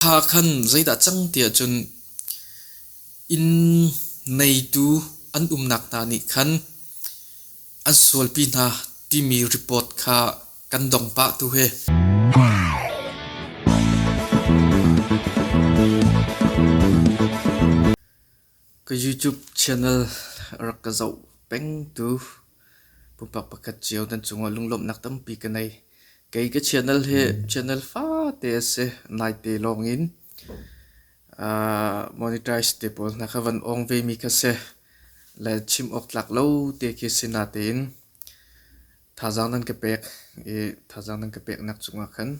Thla khan zeidah a cang tiah cun inn neitu an umnak hna nih khan an sualpi hna timi report kha kan dong pah tu he. Ka YouTube channel rak ka zoh peng tu pumpak pakhat cio nan cungah lunglawmhnak tampi ka nei. Kei ka channel hi channel fate a si. Naite lawngin monetize te pawl hna kha van awng ve mi kha si. Le chim awk tlak lo te khi si natein thazaang nan ka pek i thazaang nan ka pek nak cungah khan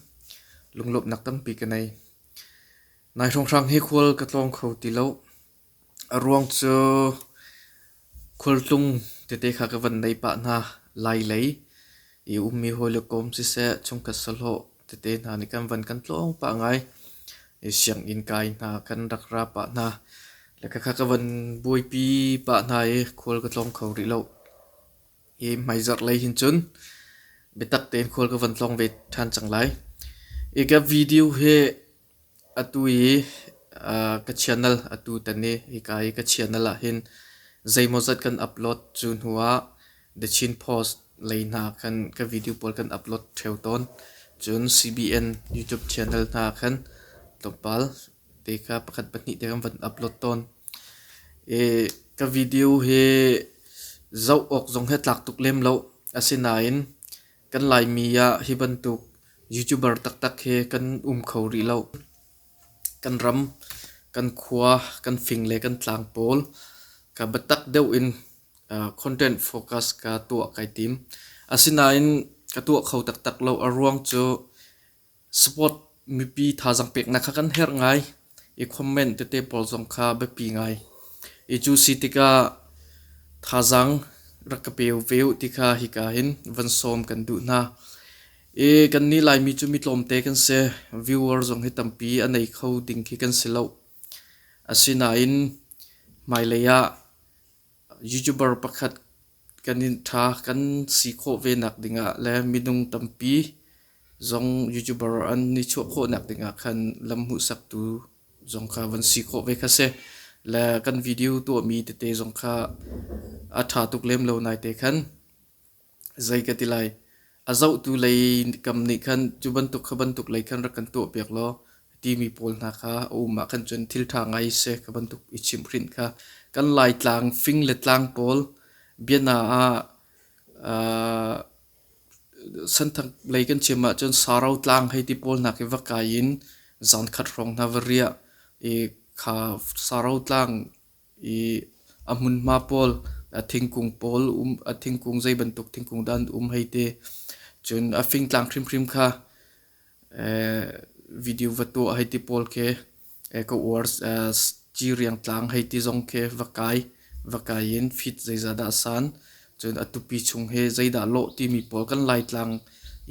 lunglawmhnak tampi ka nei. Nai hrawnghrang hi khual ka tlawng kho ti lo. A ruang cu khualtlung tete kha ka van nei pah hna. Lailei i ummi hawile kawm siseh, chungkhat sahlawh tete hna nih kan van kan tlawng pah ngai. I sianginn kai hna kan rak ra pah hna. Le khakha ka van buaipi pah hna i khual ka tlawng kho rih lo. Hi hmaizarh lei hin cun biatak tein khual ka van tlawng ve ṭhan cang lai. I ka video hi Atu i ka channel atu tan i hika i ka channel ahhin zeimawzat kan upload cu hnuah The Chin Post lei hna khan ka video pawl kan upload ṭheo tawn. Cun CBN YouTube channel hna khan tlawmpal te kha pakhat pahnih te kan van upload tawn. I ka video hi zoh awk zong hi tlak tuk lem lo. Asinain Kan Laimi ah hi bantuk YouTuber taktak hi kan um kho rih lo. Kan ram, kan khua, kan fing le kan tlang pawl ka biatak deuh in content focus ka tuah kai tim. Asinain ka tuah kho taktak lo. A ruang cu Sport mipi thazaang peknak kha kan herh ngai i comment tete pawl zong kha biapi ngai. I cu si tikah thazaang rak ka pe ve u ti kha hika hin van sawm kan duh hna. I kan ni Laimi cu mi tlawmte kan si. Viewer zong hi tampi a nei kho ding khi kan si lo. Asinain hmailei ah Youtuber pakhat kan in ṭha kan si khawh ve nakding ah le minung tampi zong youtuber an i chuah khawhnak ding ah khan lam hmuhsaktu zong kha van si khawh ve kha si. Le kan video tuahmi tete zong kha a ṭha tuk lem lo nai te khan Zei ka ti lai. A zohtu lei kam nih khan cu bantuk kha bantuk lei khan rak kan tuahpiak law timi pawl hna kha a um ah khan cun thil ṭha ngai seh ka bantuk i chimhhrinh kha kan Laitlang fing le tlang pawl biana ah aa Santhang lei kan chim ahcun Saro tlang hei ti pawl hna khi va kai in zan khat hrawng hna va riah i kha Saro tlang A hmunhma pawl, a thingkung pawl um, a thingkung zeibantuk thingkung dah an um hei te. Cun a fingtlang hrimhrim kha video va tuah hei ti pawl khi ka uar. Ciriang tlang hei ti zong khi va kai, va kai in fit zeiza dah a san. Cun a tupi chung hi zeidah lawh timi pawl kan Laitlang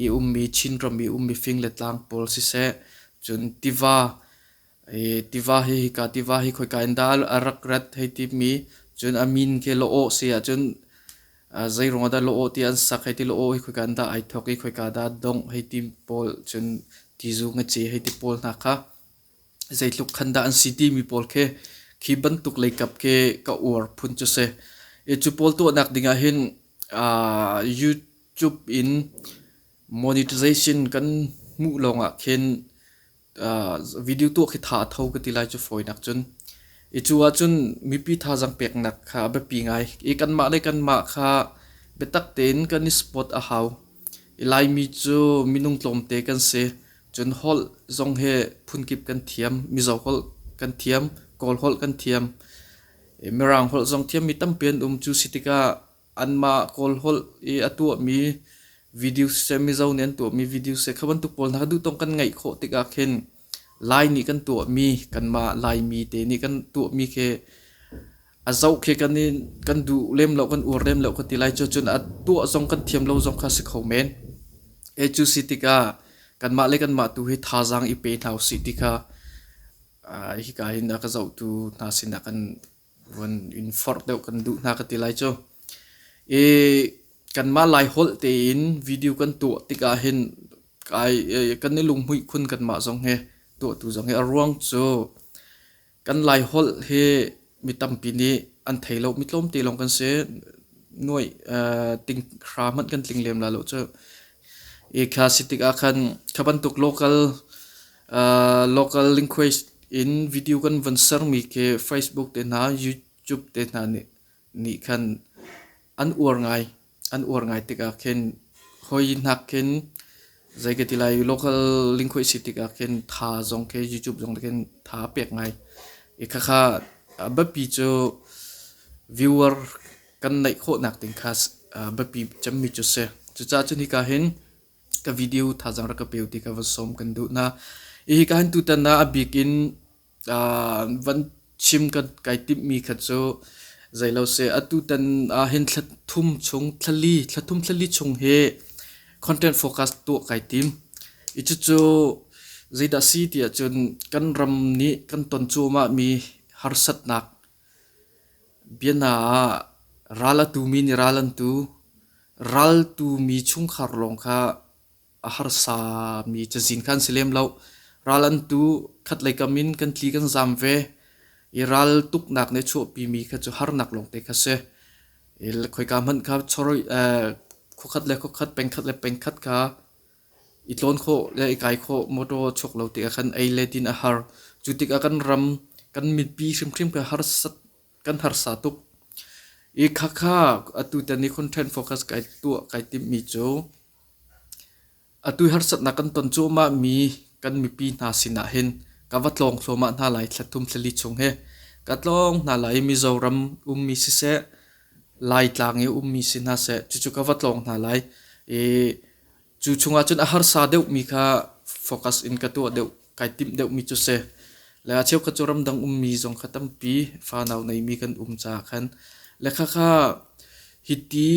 i ummi, Chinram i ummi fing le tlang pawl siseh. Cun tiva tiva hi hika tiva hi khoika in dah a rak rat hei timi cun a min khi Loawh si ahcun zeiruangah dah Loawh ti an sak hei ti Loawh hi khoika in dah ai thawk i khoika dah dongh hei ti pawl cun tizu ngece hei ti pawl hna kha zeitluk khan dah an si timi pawl khi khi bantuk leikap khi ka uar phun cu si. Cu pawl tuahnak ding ahhin YouTube in monetization kan hmuh lawngah khin video tuah khi tha a tho ka ti lai cu fawinak cun. I cu ahcun mipi thazang peknak kha a biapi ngai. I kanmah le kanmah kha biatak tein kan i support a hau. I Laimi cu minung tlawmte kan si. Cun holh zong hi phunkip kan thiam. Mizo holh kan thiam. Kawl holh kan thiam. Mirang holh zong thiam mi tampi an um. Cu si tikah anmah Kawl holh i a tuahmi videos seh Mizo nih an tuahmi videos seh kha bantuk pawl hna kha duhtawk kan ngeih khawh tikah khin Lai nih kan tuahmi kanmah Laimi te nih kan tuahmi khi a zoh khi kan i kan duh lem lo kan uar lem lo ka ti lai cu cun a tuah zong kan thiam lo zong kha si kho men e cu si tikah kanmah le kanmah tu hi thazaang i pe hna usih ti kha hi ka hin a ka zohtu hna sinah kan Van in forh deuh kan duh hna ka ti lai cu. I kanmah Lai holh tein video kan tuah tikah hin kai kan i lunghmuih khun kanmah zong hi tuahtu zong hi a ruang cu kan Lai holh hi mi tampi nih an thei lo mi tlawmte lawng kan si. Nuai ting hra hmanh kan tling lem la lo cu. I kha si tikah khan kha bantuk local Local language in video kan von sermi khi Facebook te hna, YouTube te hna nih, nih khan an uar ngai. An uar ngai tikah khin hoi nak khin zei ka ti lai local language si tikah khin tha zong khi YouTube zong khin tha pek ngai. I khakha biapi cu viewer kan neih khawh nak ding kha biapi cemmi cu si. Cucaah cu nika hin ka video thazang rak ka peu ti ka va som kan duh na i kan tu tan na abik in van chim kan kai tip mi kha chu zai lo se atu tan hin thla thum chung thlali thla thum thlali chung hi content focus tu kai tim i chu chu zeida si ti ahcun kan ram nih kan ton cu ma mi harsatnak Biana ah, ral a tumi nih ral an tu. Ral tumi chungkhar lawng kha a harsami cazin kha an si lem lo. Ral an tu, khatlei kam in kan tli kan zam ve. I ral tuknak nih a chuahpimi kha cu harnak lawngte kha a si. I khoika hmanh kha chawroi, khuakhat le khuakhat, pengkhat le pengkhat kha I tlawn khawh le i kai khawh mawṭaw chuk lo tikah khan ei le din a har. Cu tikah kan ram, kan mipi hrimhrim kha harsat, kan harsa tuk. I khakha atu tan i content focus kai tuah kai timmi cu atu i harsatnak kan ton cuahmah mi kan mipi hna sinah hin ka va tlawng thluahmah hna lai thla thum thla li chung hi ka tlawng hna lai i Mizoram ummi siseh Laitlang i ummi si hna seh cucu ka va tlawng hna lai i Cu chungah cun a harsa deuhmi kha focus in ka tuah deuh, kai timh deuhmi cu si. Le a cheukhat cu ramdang ummi zong kha tampi fanau neimi kan um caah khan. Le khakha hiti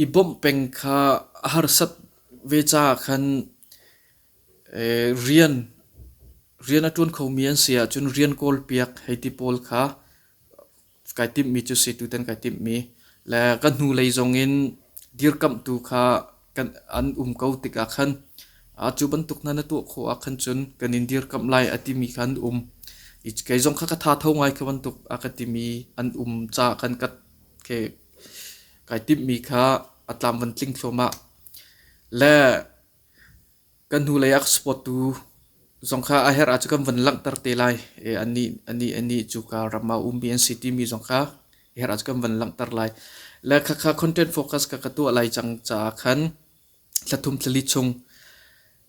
i bawmh peng kha a harsat ve caah khan eh, rian rian a ṭuan khomi an si ahcun rian kawl piak hei ti pawl kha kai timhmi cu si tutan kai timhmi le kan hnu lei zongin dirkamhtu kha kan an um ko tikah khan a cu bantuk hna na tuah khawh ah khan cun kan in dirkamh lai a timi kha an um i kei zong kha ka tha tho ngai kha bantuk a ka timi an um ca khan ka ke kai timhmi kha a tlam van tling thluamah le Kan hnulei ah ka supportu zong kha a herh ahcun kan van langhter te lai i anih, anih, anih cu ka ram ah ummi an si timi zong kha i herh ahcun kan van langhter lai. Le khakha content focus ka ka tuah lai cang caah khan thla thum thla li chung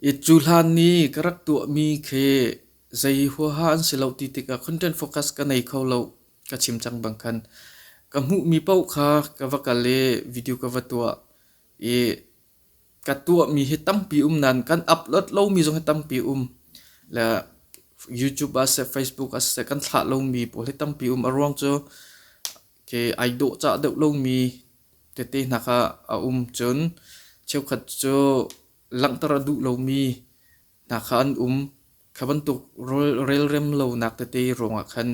i cu hlan ni ka rak tuahmi khi zei huaha an si lo ti tikah content focus ka nei kho lo ka chim cang bang khan ka hmuhmi paoh kha ka va kal i video ka va tuah i ka tuahmi hi tampi um nan kan upload lomi zong hi tampi um le YouTube as se Facebook as se kan thlah lomi pawl hi tampi um a ruang cu ke ai dawh cah deuh lomi tete hna kha a um cun cheukhat cu langhter a duh lomi hna kha an um. Kha bantuk relrem lonak tete ruangah khan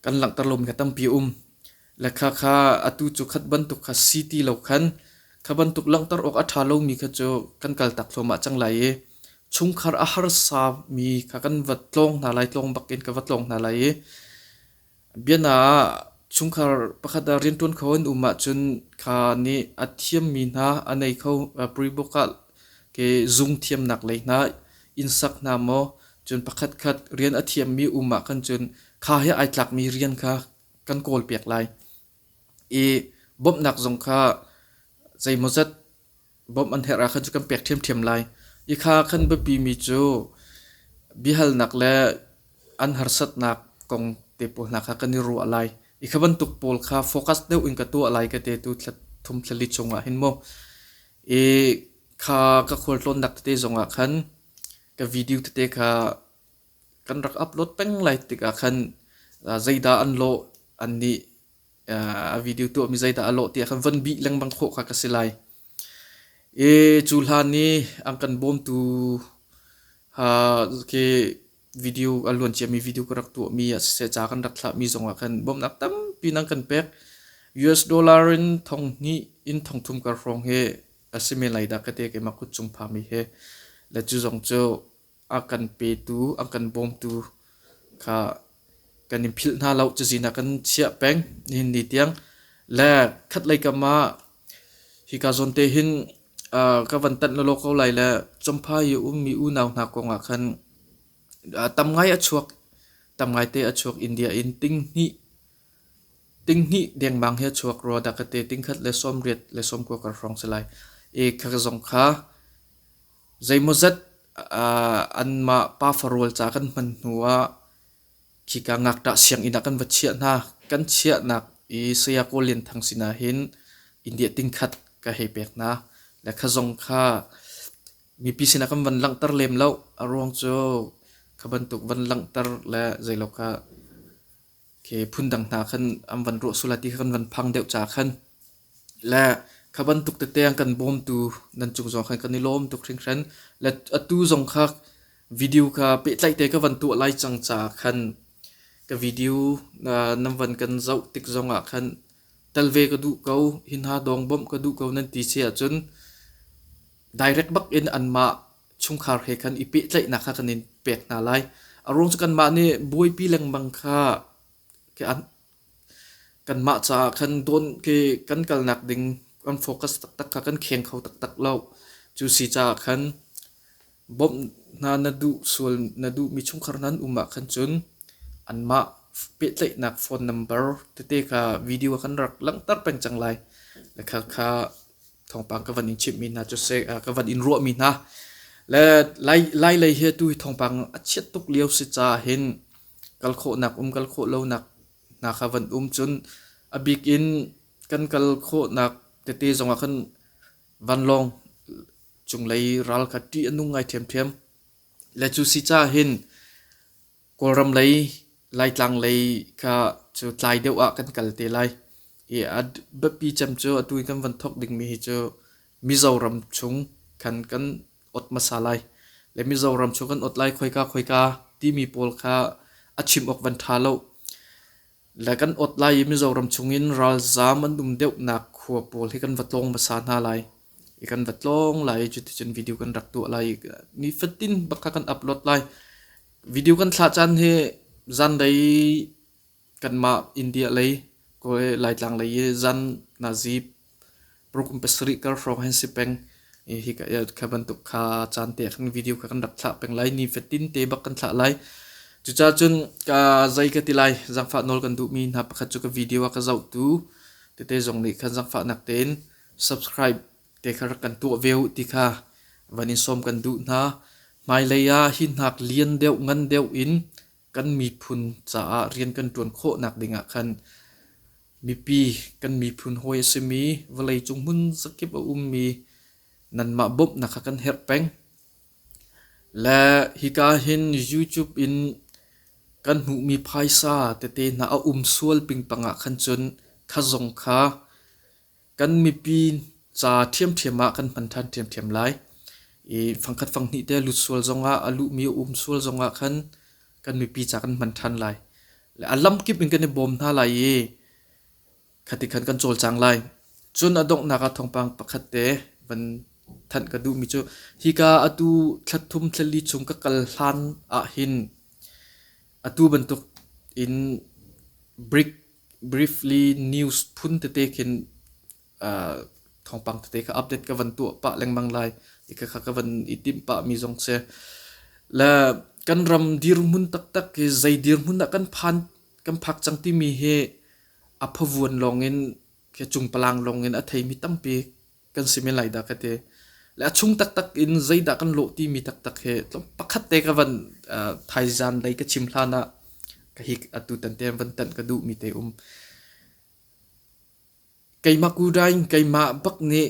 kan langhter lomi kha tampi a um. Le kha kha atu cu khat bantuk kha si ti lo khan kha bantuk langhter awk a ṭha lomi kha cu kan kaltak thluahmah cang lai i chungkhar a harsa mi kha kan va tlawng hna lai, tlawng bakin ka va tlawng hna lai i Biana ah, chungkhar pakhat ah rianṭuan kho an um ahcun kha nih a thiammi hna a nei kho Pre-book ah ke zungthiamnak lei hna in sak hna maw? Cun pakhatkhat rian a thiammi um ahkhan cun kha he ai tlakmi rian kha kan kawlpiak lai i bawmhnak zong kha zeimawzat Bawmh an herh ah khan cu kan pek ṭhiamṭhiam lai i kha khan biapimi cu biahalnak le an harsatnak kong te pawl hna kha kan i ruah lai i kha bantuk pawl kha focus deuh in ka tuah lai ka te tu thum thlali chungah hin mu i kha ka khual tlawnnak tete zongah khan ka video tete kha kan rak upload peng lai tikah khan zeidah an lawh an nih a video tuahmi zeidah a lawh tiah khan von bih lengmang khawh kha ka si lai. E cu hlan i an kan bawmtu ha ke video a luan ciami video ka rak tuahmi a siseh ca kan rak thlahmi zongah khan bawmhnak tampi nan kan pek. US dollar in thong hnih in thong thum ka hrawng hi a si men lai dah ka te keimah kut chung phami hi. Le cu zong cu a kan petu, a kan bawmtu kha kan in philh hna lo cu sinak kan chiah peng nihin ni tiang le khatlei kam ah hi ka zawn te hin uh, ka van tanh lo ko lai le chomphai i ummi unau hna kong ah khan uh, tam ngai a chuak tam ngai te a chuak india in ting hnih ting hnih dengmang he chuak ro da ka te ting khat le som riat le som ko ka rong salai e kha zong kha Zeimawzat anmah pafa rual ca kan hman hnu ah khika ngakṭah sianginn ah kan va chiah hna. Kan chiahnak i Saya Kawl Lian Thang sinah hin India tingkhat ka hei pek hna. Le kha zong kha mipi sinah kan van langhter lem lo. A ruang cu kha bantuk van langhter le zeiloka Ke phundang hna khan an van ruah sulai ti kha kan van phang deuh ca khan le kha bantuk tete an kan bawmtu nan cung zong khan kan i lawm tuk hringhran. Le atu zong kha video kha pehtlaih te ka van tuah lai cang ca khan ka video uh, nan van kan zoh tik zong ah khan tel ve ka duh ko hin ha dong bawmh ka duh ko nan ti si ahcun direct bak in anmah chungkhar he khan i pehtlaihnak kha kan in pek hna lai. A ruang cu kanmah nih buaipi lengmang kha ke an kanmah caah khan dawn ke kan kalnak ding kan focus taktak kha kan kheng kho taktak lo. Cu si caah khan bawmh hna na duh sual na duhmi chungkhar hna an um ah khan cun anmah pehtlaihnak phone number tete kha video kan rak langhter peng cang lai. Le kha kha thawngpang ka van in chimhmi hna cu se ka van in ruahmi hna le lai lai lei hi tu thawngpang a chiat tuk lio si ca hin kal khawhnak um kal khawh lonak hna kha van um cun a bik in kan kal khawhnak tete zongah khan vanlawng cunglei ral kha ṭih a nung ngai ṭhiamṭhiam le cu si ca hin Kawlram lei Laitlang lei kha cu tlai deuh ah kan kal te lai i a biapi cem cu atu i kan van thawk dingmi hi cu Mizoram chung khan kan ot hmasa lai. Le Mizoram chung kan ot lai khoika khoika timi pawl kha a chim awk van ṭha lo. Le kan ot lai i Mizoram chungin ralzaam an um deuhnak khua pawl hi kan va tlawng hmasa hna lai i kan va tlawng lai i cuticun video kan rak tuah lai i nifatin bak kan upload lai video kan thlah caan hi zanlei kanmah india lei koe laitlang lei i zan nazip Parokum pasarih kar hrawng han si peng. Hi ka kha bantuk kha caan te kan video kha kan rak thlah peng lai. Ni fatin te bak kan thlah lai. Cuca cun ka zai ka ti lai. Zangfa nawl kan duhmi hna pakhat cu ka video a ka zohtu. Tete zong nih kan zangfa nak tein subscribe te kha rak kan tuah ve u ti kha van in sawm kan duh hna. Hmailei ah hi hnak lian deuh ngan deuh in Kan miphun caah rian kan ṭuan khawhnak dingah khan mipi kan miphun hawi a simi vawleicung hmun zakip a ummi nanmah bawmhnak kha kan herh peng. Le hika hin YouTube in kan hmuhmi phaisa tete hna a um sual ping pangah khan cun kha zong kha kan mipi ca ṭhiamṭhiam ah kan hman ṭhan ṭhiamṭhiam lai. I fangkhat fanghnih te lut sual zongah a luhmi a um sual zongah khan kan mipi ca kan hman ṭhan lai. Le a lamkip in kan i bawm hna lai i khati khan kan cawlcang lai. Cun a donghnak ah thawngpang pakhat te van thanh ka duhmi cu hika atu thlathum thlali chung ka kal hlan ah hin atu bantuk in brick briefly news phun tete khin uh, thawngpang tete kha update ka van tuah pah lengmang lai i ka ka van i tim pa mi zong se la kan ram dirhmun taktak ki zai dirhmun ah kan phan kan phak chang ti mi he aphavuan longin ke chung palang longin a thei mi tampi kan si men lai dah ka ti le a chung taktak in zeidah kan lawh timi taktak he pakhat te ka van thaizan lei ka chim hlan ah ka hi atu tan te van tan ka duh mi te um keimah kudain keimah bak nih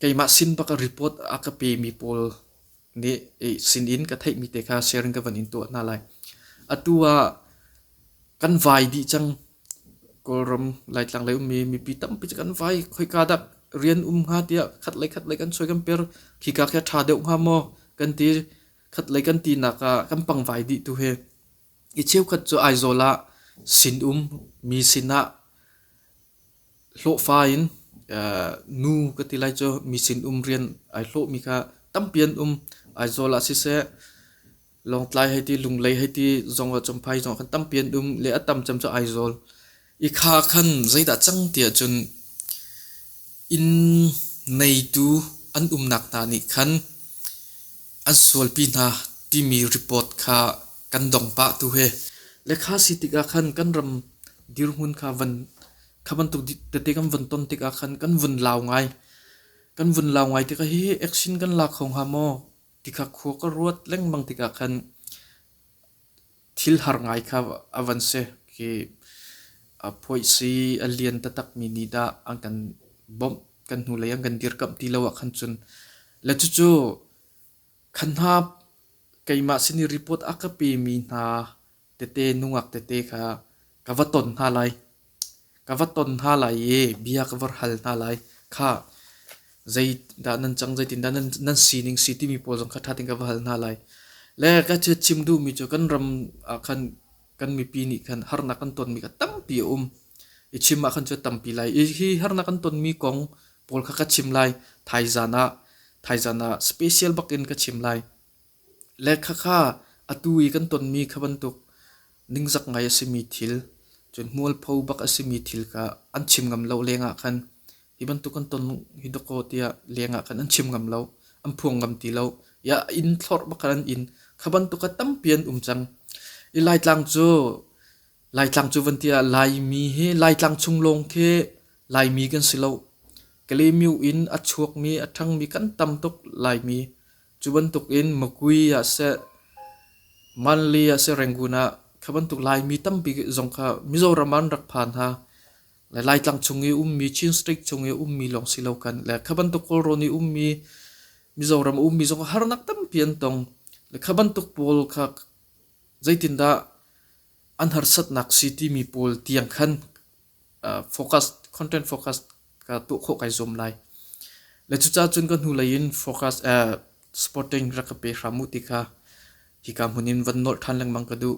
keimah sin bak a report a ka pe mi pawl nih sinin ka theihmi te kha sharing ka van in tuah hna lai. Atu ah kan vai dih cang. Kawlram Laitlang lei ummi mipi tampi cu kan vai. Khoika dah rian um hnga tiah khat lei khat lei kan soi kan per. Khika khi a ṭha deuh hnga maw kan ti. Khat lei kan tinak ah kan pang vai dih tu hi. I cheukhat cu Aizawl ah sinum mi sinah hlawhfa in nu ka ti lai cu mi sinum rian ai hlawhmi kha tampi an um. Aizawl ah siseh, Lawngtlai hei ti, Lunglei hei ti zong ah Champhai zong kan tampi an um. Le a tam cem cu Aizawl. I kha khan zeidah cang tiah cun inn neitu an umnak hna nih khan an sualpi hna timi report kha kan dong pah tu he le kha si tikah khan kan ram dirhmun kha van kha bantuk tete kan von ton tikah khan kan vun lau ngai kan vun lau ngai tikah hi action kan la kho hnga maw ti kha khua ka ruat lengmang tikah khan thil har ngai kha a van si. Khi a phuaisi a lian taktakmi nih dah an kan bawmh, kan hnulei an kan dirkamh ti lo ah khan cun le cucu khan hna keimah sin i report a ka pemi hna tete nungak tete kha ka va ton hna lai ka va ton hna lai i bia ka va hal hna lai. Kha zeidah nan cang, zeitindah nan sining si timi pawl zong kha ṭha tein ka va hal hna lai. Le ka chim duhmi cu kan ram ah khan kan mipi nih khan harnak kan tonmi kha tampi a um. I chim ahkhan cu a tampi lai. Hi harnak kan tonmi kong pawl kha ka chim lai. Thaizan ah, thaizan ah special bak in ka chim lai. Le khakha atu i kan tonmi kha bantuk ningzak ngai a simi thil, cun mualpho bak a simi thil kha an chim ngam lo lengah khan hi bantuk kan ton hi dakaw tiah lengah khan an chim ngam lo, an phuang ngam ti lo. Ya inn thlorh bak khan an inn. Kha bantuk a tampi an um cang. I Laitlang cu Laitlang cu van tiah Laimi hi Laitlang chung lawng khi Laimi kan si lo. Kalemiu in a chuakmi a ṭhangmi kan tam tuk Laimi. Cu bantuk in Makui ah seh, Manli ah seh Rangoon ah kha bantuk Laimi tampi zong kha Mizoram ah an rak phan hna. Le Laitlang chung i ummi Chin State chung i ummi lawng si lo kan le kha bantuk Kawlrawn i ummi Mizoram ummi zong harnak tampi an tong. Le kha bantuk pawl kha zeitindah an harsatnak si timi pawl tiang khan focus content focus ka tuah khawh kai zuam lai le cucaah cun ka hnu lei in focus uh, supporting rak ka pe hram u ti kha hika hmun in van nolh than lengmang ka duh